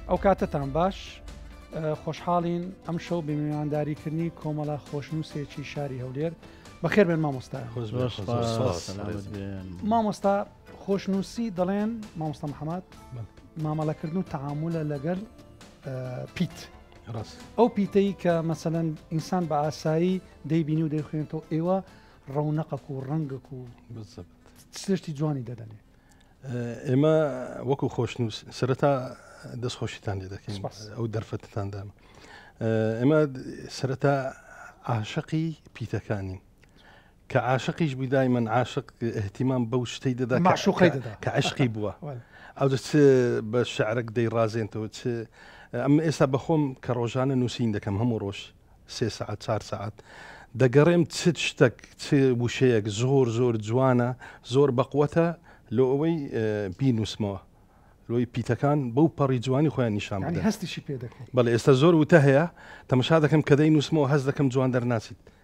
ئەو کاتتان باش خۆشحاڵین ئەم شەو بمیوانداریکردنی کۆمەڵە خۆشنووسێکی شاری هەولێر بەخێر بێن مامۆستا مامۆستا خۆشنووسی دەڵێن مامۆستا محەممەد مامەڵەکردن و تعاملە لەگەل پیت ڕاست ئەو پیتەی کە مەسەەن ئینسان بە ئاسایی دەیبینی و دەیخوێنێتەوە ئێوە ڕەونەقەک و ڕەنگەک و سشتی جوانی دەدەنێ ئێمە وەکو خۆشنووس سەرەتا دەستخۆشیتان لێ دەکەین ئەو دەرفەتتاندام ئێمە سەرەتا عاشقی پیتەکانین کە عاشقیش بوی دایمەن عاشق اهتیمام بەو شتەی دەدا مەعشوقەی دەدا کە عەشقی بووە ئەوجە چ بە شعرەک دەیڕازێنتەوە چ ئەم ئێستا بەخۆم کە ڕۆژانە نووسین دەکەم هەموو ڕۆژ سێ سعات چار سعات دەگەڕێم چ شتەک چ وشەیەک زۆر زۆر جوانە زۆر بەقوەتە لۆ ئەوەی بینوسمەوە لۆی پیتەکان بەو پەڕی جوانی خۆیان نیشان هەستیشی پێ دەکەن بەڵ ئێستا زۆر وتە هەیە تەمەشا دەکەم کە دەی نووسمەوە هەز دەکەم جوان دەرناچیت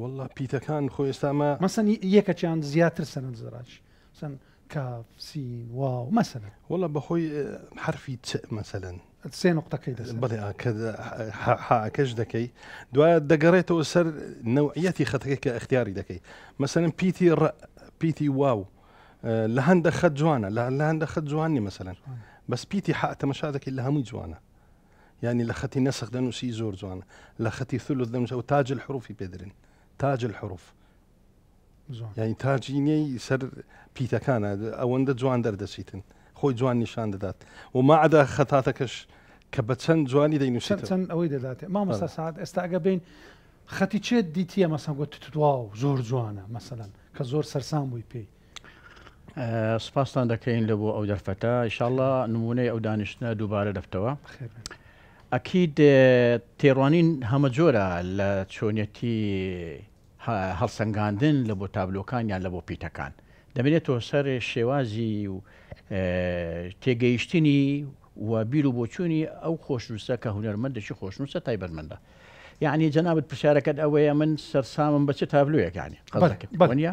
واللە پیتەکان خۆ ئێستامە مەسەن یەکەچیان زیاتر سەند زراج سن کاف سین واو مەسەن واللە بەخۆی حرفی چ مەسەن سێ نقطەکەی دەست بڵێ حاکەش دەکەی دوایە دەگەڕێتەوە سەر نەوعەتی خەتەکە کە اختیاری دەکەی مەسەن پیتی ڕ پیتی واو لە هەندە خەت جوانە لە هەندە خەت جوانی مەسەن بەس پیتی حتەمەشا دەکەی لە هەمووی جوانە یعنی لە خەتی نەسخ دەنووسی زۆر جوانە لە خەتی ثلث دەنووسە و تاج الحروفی پێدرن تاج الحروف یعنی تاجینەی سەر پیتەکانە ئەوەندە جوان دەردەچیتن خۆی جوان نیشان دەدات و ماعدا خەتاتەکەش کە بە چەند جوانی دەینووسێت چەند ئەوەی دەدات مامۆستا سعات ئێستا ئەگە بین خەتی چێت دیتیە مەسەن گوت تواو زۆر جوانە مەسەن کە زۆر سەرسان بووی پێی سپاستان دەکەین لە بۆ ئەو دەرفەتە ئیشاءاللە نمونەی ئەو دانیشتنە دووبارە دەبتەوە ئەکید تێڕوانین هەمە جۆرە لە چۆنیەتی هەڵسەنگاندن لە بۆ تابلۆکان یان لە بۆ پیتەکان دەبێتەوە سەر شێوازی و تێگەیشتنی و بیر و بۆچوونی ئەو خۆشنووسە کە هونەرمەندێکی خۆشنووسە تایبەتمەندە یعنی جەنابەت پرسیارەکەت ئەوەیە من سەرسامم بە چ تابلویەکانی قەڵەکەوانە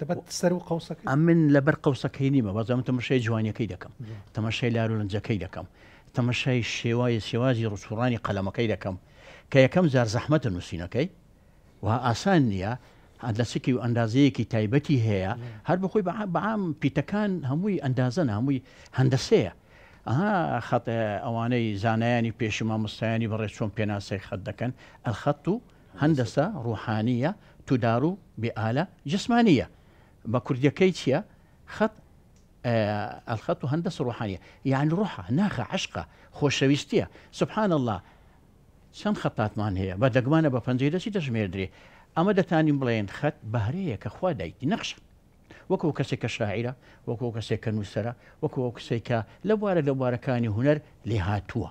دەبەت سەر و قوسەکە ئەمن لەبەر قوسەکەی نیمە بەزەم تەمەشای جوانیەکەی دەکەم تەمەشای لارولەنجەکەی دەکەم تەمەشای شێوای شێوازی ڕسوڕانی قەلەمەکەی دەکەم کە یەکەم جار زەحمەتە نووسینەکەی و ئاسان نییە ئەندەسکی و ئەندازەیەکی تایبەتی هەیە هەر بخۆی بەعام پیتەکان هەمووی ئەندازە هەمووی هەندەسەیە ئەها خەت ئەوانەی زانایانی پێشما مستایانی بەڕێ چۆن پێناسەی خەت دەکەن ئەلخەت و هەندەسە ڕوحانیە تودارو بێ ئالە جسمانیە بە کوردیەکەی چیە خەت الخط هندسە ڕوحانیە یەعنی ڕوحە ناخە عەشقە خۆشەویستیە سبحان اللە چەند خەتاتمان هەیە بە دەگمانە بە پەنجەی دەسی دەژمێردرێ ئەمە دەتانین بڵێن خەت بەهرەیە کە خوا دایتی نەخشە وەکو کەسێک کە شاعرە وەکو کەسێک کە نووسەرە وەکو ئەو کەسێک کە لە بوارە لە بوارەکانی هونەر لێهاتووە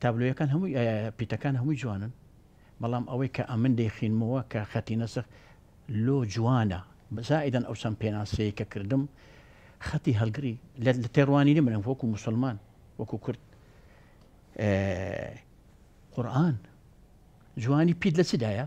تابلۆیەکان هەمووی پیتەکان هەمووی جوانن بەڵام ئەوەی کە ئەمن دەیخینمەوە کە خەتی نەسەخ لۆ جوانە زائدەن ئەو چەند پێناسەیە کە کردم خەتی هەلگری لە تێڕوانینی منم وەکو مسلمان وەکو کورد قورآن جوانی پیت لە چدایە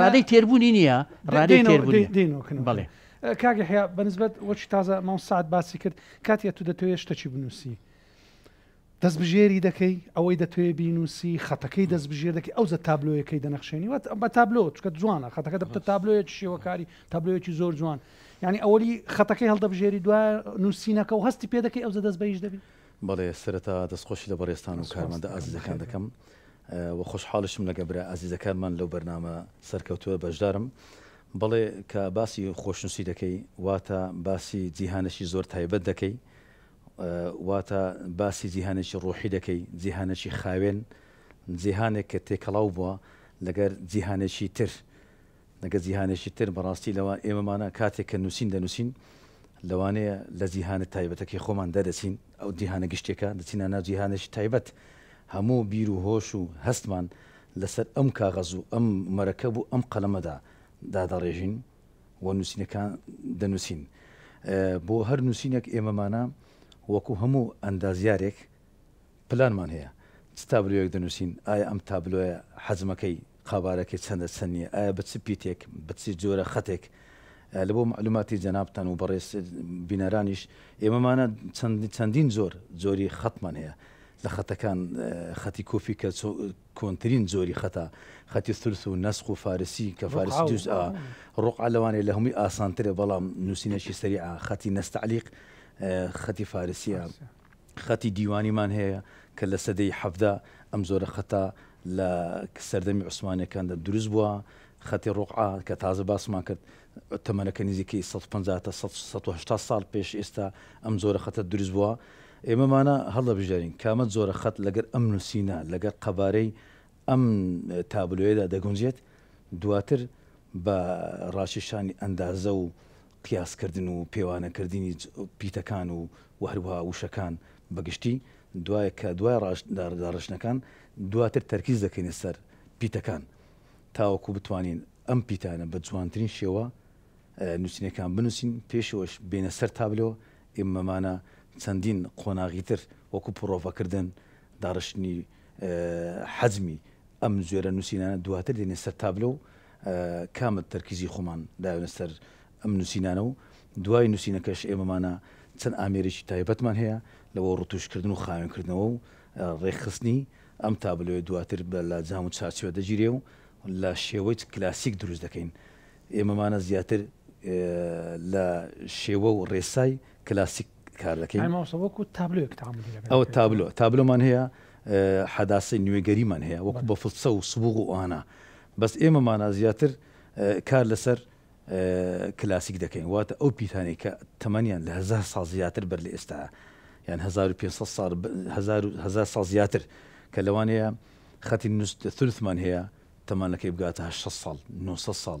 ڕادەی تێربوونی نییە ڕادەی تێربوونی بڵێ کاگە حیا بەنسبەت وەچی تازە ماو سعات باسی کرد کاتیە تو دەتەوێت شتەکی بنووسی دەست بژێری دەکەی ئەوەی دەتوێ بینوسی خەتەکەی دەست بژێر دەکەی ئەو زە تابلۆیەکەی دەنەخشێنی وە بە تابلۆ چکە جوانە خەتەکە دەبتە تابلۆیە شێوەکاری تابلۆیەکی زۆر جوان یعنی ئەوەی خەتەکەی هەڵدەبژێری دوای نووسینەکە و هەستی پێ دەکەی ئەو زە دەست بەیش دەبی بەڵێ سەرەتا دەستخۆشی لە بەڕێزتان و کارمەندە ئازیزەکان دەکەم و خۆشحاڵیشم لەگە برا ئازیزەکانمان لەو بەرنامە سەرکەوتوە بەشدارم بەڵێ کە باسی خۆشنوسی دەکەی واتە باسی جیهانەشی زۆر تایبەت دەکەی واتە باسی جیهانێکی ڕۆحی دەکەی جیهانەکی خاوێن جیهانێک کە تێکەڵاو بووە لەگەر جیهانێکی تر نەکە جیهانێکی تر، بەڕاستی لەوان ئێمەمانە کاتێک کە نووسین دەنووسین لەوانەیە لە جیهانە تایبەتەکەی خۆمان دەرەچین، ئەو جیهانە گشتێکە دەچینە ناو جیهانێکی تایبەت، هەموو بیر و هۆش و هەستمان لەسەر ئەم کاغەز و ئەم مەرەکەب و ئەم قەلەمەدا دادەڕێژین و نووسینەکان دەنووسین. بۆ هەر نووسینێک ئێمەمانە وەکوو هەموو ئەندازیارێک پلانمان هەیە، چ تابلۆیەک دەنووسین، ئایا ئەم تابلۆیە حەجمەکەی قەبارەکەی چەندە چەند نیە؟ ئایا بە چ پیتێک بە چ جۆرە خەتێک؟ لە بۆ مەعلوماتی جەنابتان و بەڕێز بینەرانیش ئێمەمانە چەند چەندین جۆر جۆری خەتمان هەیە لە خەتەکان خەتی کوفی کە کۆنترین جۆری خەتە خەتی ثلث و نەسق و فارسی کە فارسی جوز ئا ڕقع لەوانەیە لە هەمووی ئاسانترە بەڵام نووسینەشی سەریعە خەتی نەستەعلیق خەتی فارسیە خەتی دیوانیمان هەیە کە لە سەدەی حەڤدە ئەم جۆرە خەتە لە سەردەمی عوسمانیەکاندا دروست بووە، خەتی ڕوقعە کە تازە باسمان کرد تەمەنەکە نزیکەی سەد و پەنجا تا سەد سەد و هەشتا ساڵ پێش ئێستا ئەم جۆرە خەتە دروست بووە. ئێمە مانا هەڵدەبژێرین کامە جۆرە خەت لەگەر ئەم نووسینە لەگەر قەبارەی ئەم تابلۆیەدا دەگونجێت، دواتر بە ڕاکێشانی ئەندازە و قیاسکردن و پێوانەکردنی پیتەکان و و هەروەها وشەکان بە گشتی، دوای کە دوای ڕاش داڕشتنەکان دواتر تەرکیز دەکەینە سەر پیتەکان تاوەکو بتوانین ئەم پیتانە بە جوانترین شێوە نووسینەکان بنووسین، پێشەوەش بێنە سەر تابلۆ، ئێمەمانە چەندین قۆناغی تر وەکو پڕۆڤەکردن، داڕشتنی حەجمی ئەم جۆرە نووسینانە دواتر دێنێ سەر تابلۆ و کامە تەرکیزی خۆمان داوێنە سەر ئەم نووسینانە و دوای نووسینەکەش ئێمەمانە چەند ئامێرێکی تایبەتمان هەیە لە بۆ ڕتوشکردن و خاوێنکردنەوە و ڕێکخستنی ئەم تابلۆیە دواتر بە لە جام و چارچێوە دەگیرێ و لە شێوەی کلاسیک دروست دەکەین ئێمەمانە زیاتر لە شێوە و ڕێسای کلاسیک کار دەکەین ئەو تابلۆ تابلۆمان هەیە حەداسی نوێگەریمان هەیە وەکو بە فڵچە و سبوغ و ئانا بەس ئێمەمانە زیاتر کار لەسەر کلاسیک دەکەین واتە ئەو پیتانی کە تەمەنیان لە هزار ساڵ زیاتر بەر لە ئێستا یان 1500 ساڵ زیاتر کە لەوانەیە خەتی نوست ثلثمان هەیە تەمانەکەی بگاتە 600 ساڵ 900 ساڵ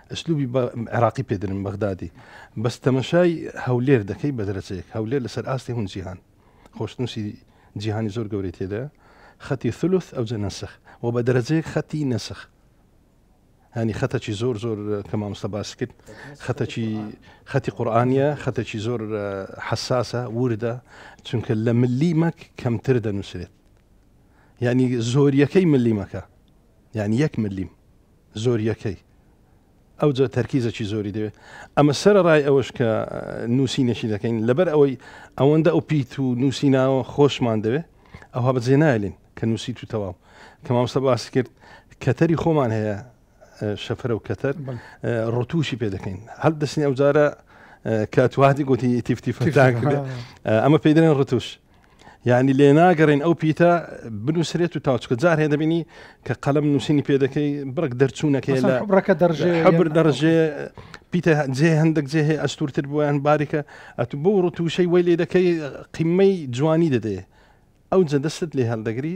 ئسلوبی بە عێراقی پێدرن بەغدادی بەس تەمەشای هەولێر دەکەی بە دەرەچەیەک هەولێر لەسەر ئاستی هون جیهان خۆشنووسی جیهانی زۆر گەورەی تێدا خەتی ثلث ئەو جە نەسخ و بە دەرەجەیەک خەتی نەسخ هەنی خەتەکی زۆر زۆر کە مامۆستا باس کرد خەتەکی خەتی قورآانە خەتەکی زۆر حساسە وردە چونکە لە ملی مەک کەمتر دەنووسێت یعنی زۆریەکەی ملی مەکە یعنی یەک ملیم زۆرییەکەی ئەوجا تەرکیزەکی زۆری دەوێت. ئەمە سەرەڕای ئەوەش کە نووسینێکی دەکەین لەبەر ئەوەی ئەوەندە ئەو پیت و نووسیناوە خۆشمان دەوێت ئەوها بەجێ نایلین کە نووسیت و تەواو کە مامۆستا باسی کرد کەتەری خۆمان هەیە شەفرە و کەتەر ڕتوشی پێ دەکەین هەر دەستنی ئەو جارە کاتواتی گوتی تیفتیفتان کرد ئەمە پێدرێن ڕتوش یعنی لێ ناگەڕین ئەو پیتە بنووسرێت و تاو چکە جار هەیە دەبینی کە قەلم نووسینی پێ دەکەی بڕک دەرچوونەکەی لە ڕەکە دەڕژێ حبر دەڕژێ پیتە جێ هەندێک جێ هەیە ئەستورتر بوویان باریکە ئەت بۆ ڕوتوشەی وەی لێ دەکەی قیمەی جوانی دەدێ ئەو جە دەستت لێ هەڵدەگری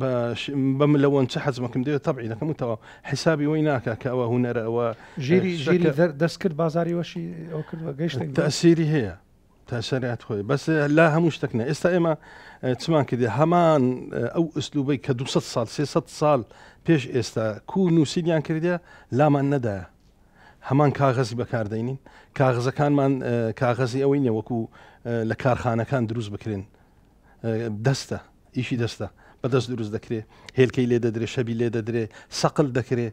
باش بەم لەوەن چ حەزمەکەم دەوێت تەبعی دەکەم و تەواو حیسابی وەی ناکە کە ئەوە هوەرە ئەوە ژیری ژیری دەست کرد بازاری وەشی ئەو کرد گەشت تاسیری هەیە تاسەرات خۆی بەس لا هەموو شتێک نە ئێستا ئێمە چمان کردی هەمان ئەو ئەسلوبەی کە 200 سال 300 سال پێش ئێستا کو نووسیدیان کردە لامان نەدایە هەمان کاغەزی بەکاردەینین کاغزەکانمان کاغەزی ئەوەی نێوەکو لە کارخانەکان دروست بکرێن دەستە ئیشی دەستە بەدەست دروست دەکرێ هێلکەی لێ دەدرێ شەبی لێ دەدرێ سەقل دەکرێ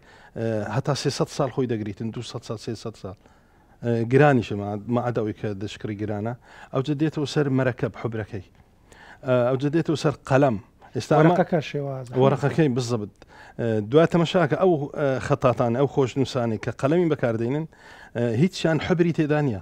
هەتا 300 سال خۆی دەگریتن 200 سال 300 سال گرانیشەمە مادەوەی کە دەشکڕی گرانە ئەوجە دێتەوە سەر مەرەکەب حبرەکەی ئەوجە دێتەوە سەر قەلەم ئێستا ڕقەکە شێواز وەرەقەکەی بزەبت دوا تەمەشاکە ئەو خەتاتان ئەو خۆشنووسانی کە قەلەمی بەکاردێنن هیچیان حبری تێدانە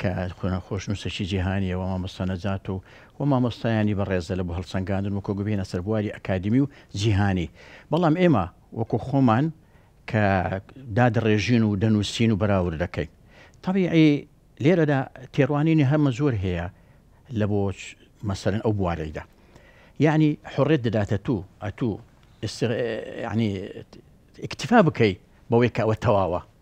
کە خوێنە خۆشنووسێکی جیهانییە و مامۆستا نەجات و و مامۆستایانی بەڕێزە لە بۆ هەڵسەنگاندن و کۆگبهێنە سەر بواری ئەکادیمی و جیهانی بەڵام ئێمە وەکو خۆمان کە دادڕێژین و دەنووسین و بەراورد دەکەین تەبیعی لێرەدا تێڕوانینی هەمە زۆر هەیە لە بۆ مەسەرن ئەو بوارەیدا یعنی حڕێت دەداتە تو ئەتوو یعنی اکتفا بکەی بەوەی کە ئەوە تەواوە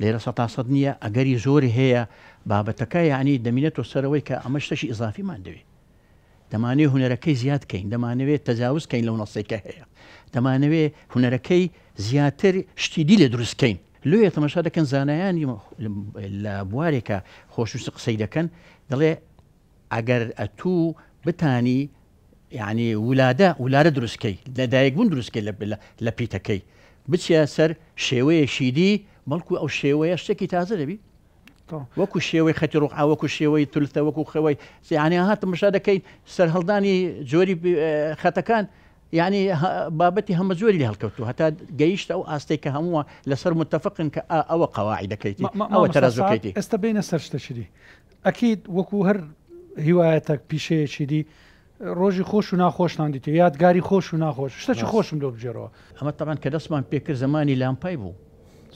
لێرە سەتا سەد نییە ئەگەری زۆری هەیە بابەتەکە یعنی دەمینێتەوە سەرەوەی کە ئەمە شتەشی ئیزافیمان دەوێت دەمانەوێت هوەرەکەی زیاد کەین دەمانەوێت تەجاوز کەین لەو نەسێکە هەیە دەمانەوێت هوەرەکەی زیاتر شتی دی لە دروست کەین لێ تەمەشا دەکەن زانایانی لە بوارێکە خۆشویست قسەی دەکەن دەڵێ ئەگەر ئەتوو بتانی یانی ولادە ولادە دروست کەی لە دایک بوون دروست کەی لە پیتەکەی بچە سەر شێوەیە شیدی بەڵکو ئەو شێوەیە شتێکی تازە دەبی وەکو شێوەی خەتی ڕوح وەکو شێوەی تولتە وەکو خەوەی زیانیان هاتم مشا دەکەین سەر هەڵدانی جۆری خەتەکان یعنی بابەتی هەمە جۆری لە هەڵکەوتو هەتا گەیشتە ئەو ئاستێک کە هەمووە لەسەر متتەفقن کە ئەوە قەواعی دەکەیتی ئەوە تەرەزەکەیتی ئێستا بینە سەر شتەشری ئەکید وەکو هەر هیوایەتەک پیشەیەکی دی ڕۆژی خۆش و ناخۆشتان دیتوە یادگاری خۆش و ناخۆش شتەکی ڕاست خۆشم لۆ بگێڕەوە. ئەمە تەبعەن کە دەستمان پێ کرد زەمانی لامپای بوو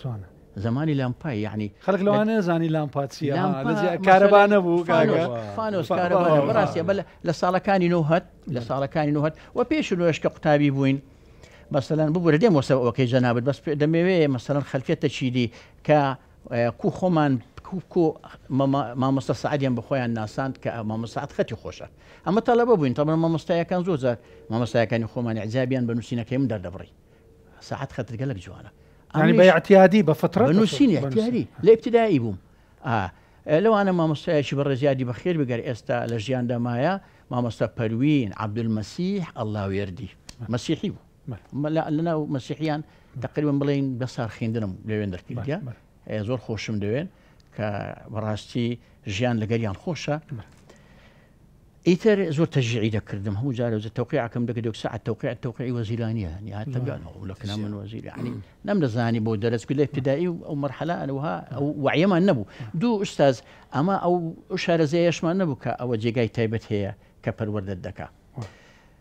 جوانە. زەمانی لامپای یەعنی خەلک لە لەوانە نەزانی لامپا چیە ها لامپا لەجیا کارەبا مەسەلەن نەبوو کاکە فانۆس فانۆس بەخوا کارەبا نەبوو بەخوا ڕاستە بەلە لە ساڵەکانی نۆهەد لە بەلە ساڵەکانی نۆهەد و پێش نۆهەش کە قوتابی بووین مەسەلەن ببورە دێمەوە سەر ئەوەکەی جەنابت بەس پێ دەمەوێ مەسەلەن خەلکێ تەچیدی کە کو خۆمان کو مامۆستا سەعدیان بە خۆیان ناساند کە مامۆستا سەعد خەتی خۆشە ئەمە تەڵەبە بووین تەڵەبە مامۆستایەکان زۆر جار مامۆستایەکانی خۆمان ئیعجابیان بە نووسینەکەی من دەردەبڕی سەعد خەتت گەلەک جوانە ینی بە اعتیادی بە فطرەت بە نووسینی اعتیادی لە ابتدایی بووم لەوانە مامۆستایەکی بەڕێز یادی بەخێر بگەر ئێستا لە ژیاندا مایە مامۆستا پەروین عەبدولمەسیح ئەڵڵاوێردی مەسیحی بوو مەلا لەناو مەسیحیان تەقریبەن بڵێین بە سارخیندنم لەوێن دەرکردە زۆر خۆشم دەوێن کە بەڕاستی ژیان لەگەریان خۆشە ئیتر زۆر تەژیعی دەکردم هەموو جارە تەوقیعکەم دەکە دو ساعت تەوقع تەوقعی وەزیرانیە یاتەگەن لەکنا من وەزیری عنی نەم دەزانی بۆ دەرەست لە ابتدایی و ئەو مەرحەلا ئەوها ئەو وعیەمان نەبوو دوو ئوستاز ئەمە ئەو شارەزەیەشمان نەبوو کە ئەوە جێگای تایبەت هەیە کە پەروەردەت دەکا.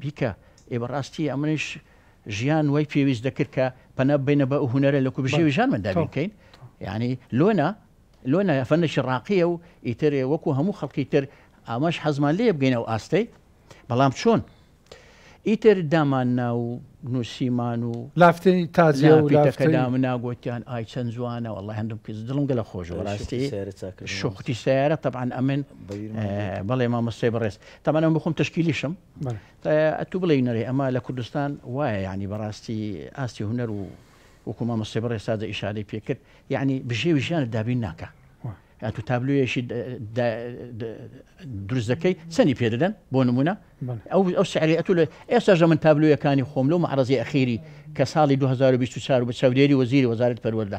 بیکە ئێ بەڕاستی ئەمنیش ژیان وای پێویست دەکرد کە پەنا ببەینە بە ئەو هونەرە لە کوبژێوی ژانماندا بیر بکەین یعنی لۆنا لۆنا فەنێکی ڕاقییە و ئیتر وەکو هەموو خەڵکی تر ئاماش حەزمان لێ بگەینە و ئاستەی بەڵام چۆن ئیتر دامان ناو نووسیمان و لافتی تازی و لافەکەدا مناگوتیان ئای چەند جوانە والله هەندم کز دڵم گەلە خۆش بەڕاستی شوختی سیارە طبعا ئەمن بەڵێ مامۆستی بەڕێز تەمەنم بخۆم تەشکیلیشم ئەتوو بڵێ نەرێ ئەمە لە کوردستان وایە یعنی بەڕاستی ئاستی هوەر و وکوما مەستی بڕێ سازە ئیشارەی پێکرد یعنی بژێوی ژیانە دابین ناکە ئەتو تابلوێشی دروست دەکەی چەنی پێ دەدەن بۆ نمونە ئەو ئەو سعری ئەتو لە ئێستا ژە من تابلوەکانی خۆم لەو معرەزی ئەخیری کە ساڵی 2024 بە چاودێری وەزیری وەزارت پەروەەردە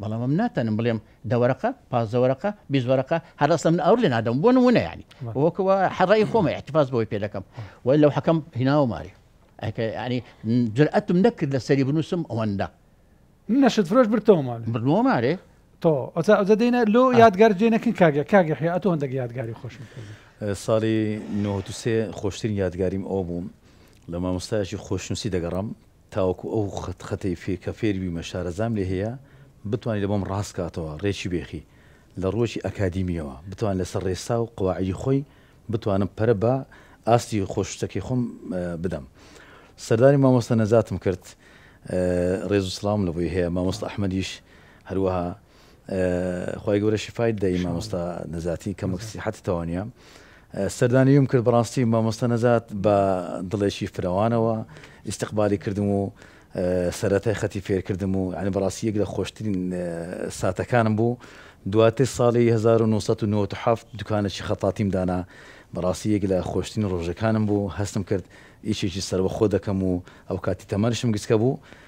بەڵام ئەم ناتانم بڵێم دە وەرەقە پازدە وەرەقە بیست وەرەقە هەر ئەسڵەن من ئەوەر لێ نادەم بۆ نموونە یانی وەکو وا هەر ڕای خۆمە احتفاظ بەوەی پێ دەکەم وای لەو حەکەم هیناوە ماری ئەکە ینی جرئەتم نەکرد لە سەری بنووسم ئەوەندە نەشت فرۆش برتەوە ماڵێ بردنەوە مارێ تۆ ئەوسا ئەوجە دێنە لۆ یادگار جێ نەکن کاگە کاگە حیا ئەتۆ هەندێک یادگاری خۆشم کردی ساڵی 93 خۆشترین یادگاریم ئەو بووم لە مامۆستایەکی خۆشنووسی دەگەڕام تاوەکو ئەو خەت خەتەی فێ کە فێر بیمە شارەزام لێ هەیە بتوانی لە بۆم ڕاست کاتەوە ڕێکی بێخی لە ڕووەکی ئەکادیمیەوە بتوان لە سەر ڕێسا و قواعیدی خۆی بتوانم پەرە بە ئاستی خۆشوستەکەی خۆم بدەم سەردانی مامۆستا نەجاتم کرد ڕێز و سڵاوم لە بۆی هەیە مامۆستا ئەحمەدیش هەروەها خوای گەورە شیفایت دەی مامۆستا نەجاتی کەمەک سیحەتت تەوانیە سەردانیم کرد بەڕاستی مامۆستا نەجات بە دڵێکی فرەوانەوە ئیسیقبالی کردم و سەرەتای خەتی فێرکردم و عنی بەڕاستی یەک لە خۆشترین ساتەکانم بوو دواتر ساڵی 1997 دوکانێکی خەتاتیم دانا بەڕاستی یەک لە خۆشترین ڕۆژەکانم بوو هەستم کرد ئیشێکی سەربەخۆ دەکەم و ئەو کاتی تەمەنشم گچکە بوو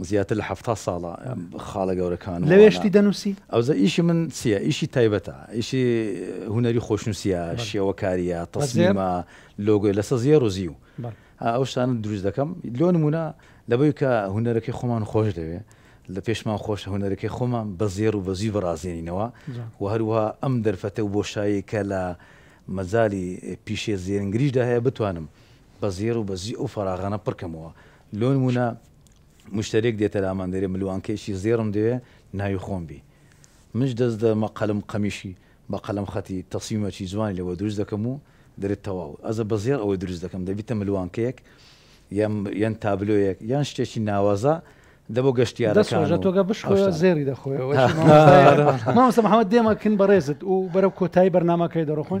زیاتر لە حەفتا ساڵە خاڵە گەورەکان و لەوێ شتی دەنووسی؟ ئەوزە ئیشی من چییە؟ ئیشی تایبەتە، ئیشی هونەری خۆشنووسییە، شێوەکارییە، تەسمیمە، لۆگۆی لەسە زێڕ و زیو. ئەو شتانە دروست دەکەم. لۆ نموونە لەبەوەی کە هونەرەکەی خۆمان خۆش دەوێ، لە پێشمان خۆشە هونەرەکەی خۆمان بە زێڕ و بە زیو بڕازێنینەوە و هەروەها ئەم دەرفەتە و بۆشایەی کە لە مەجالی پیشەی زێنگریشدا هەیە بتوانم بە زێڕ و بە زیو ئەو فەراغانە پڕ کەمەوە. لۆنمونە مشتەرێک دێتە لامان دەرێ ملوانکەیەکی زێڕم دەوێ ناوی خۆم بی منش دەست دە مە قەلم قەمیشی بە قەلم خەتی تەسویمەکی جوانی لە وە دروست دەکەم و دەرێ تەواو ئەزە بە زێڕ ئەوەی دروست دەکەم دەبیتە ملوانکەیەک یان یان تابلۆیەک یان شتێکی ناوازە دە بۆ گەشتیارەکان و دەسۆژەتۆگە بشخۆە زێری دەخۆەوە مامۆستا محمد دێمە کن بە ڕێزت و بەرەو کۆتایی بەرنامەکەی دەڕۆخۆن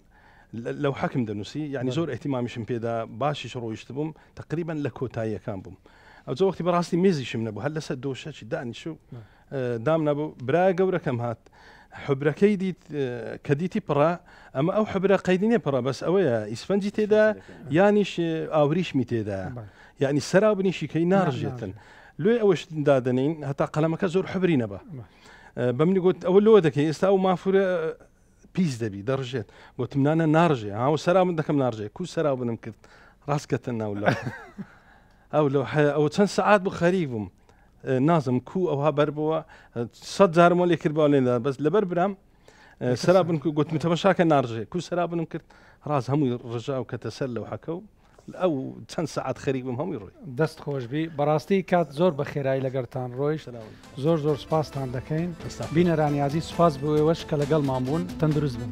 لەو حەکم دەنووسی یعنی زۆر احتیمامیشم پێدا باشیش ڕۆیشت بووم تقریبان لە کۆتاییەکان بووم ئەو زە وەختی بەڕاستی مێزیشم نەبوو هەر لەسەر دۆشەکی دانیش و دام نەبوو برای گەورەکەم هات حبرەکەی دیت کە دیتی پڕە ئەمە ئەو حبرە قەیدینێ پڕە بەس ئەوەیە ئیسفەنجی تێدا یانیش ئاوریشمی تێدا یعنی سەرا بنیشیکەی ناڕژێتن لێ ئەوەش دادنین هەتا قەلەمەکە زۆر حبری نەبە بەمنی گوت ئەوە لۆ دەکەی ئێستا و مافورە پیس دەبی دەڕژێت گوتم نانە ناڕژێ هاو سەرا من دەکەم ناڕژێ کو سەرا بنم کرد ڕاستکەتە ناو لە ئەو لە ئەو چەند سعات بوو خەری بووم نازم کو ئەوها بەر بووە سە جارمە لێ کرد باێندا بەس لەبەر برام سەرا بن گوتم تەمەشاکە ناڕژێ کو سەرا بنم کرد ڕاست هەمووی ڕژاو کەتە سەر لەو حەکە و ئەو چەند سەعات خەریک بم هەمووی ڕۆی دەست خۆشببی بەڕاستی کات زۆر بە خێرایی لەگەرتان ڕۆیشت زۆر زۆر سپاستان دەکەین بینەرانیازی سپاس بۆێوەش کە لەگەڵمان بوون تەندروست بن.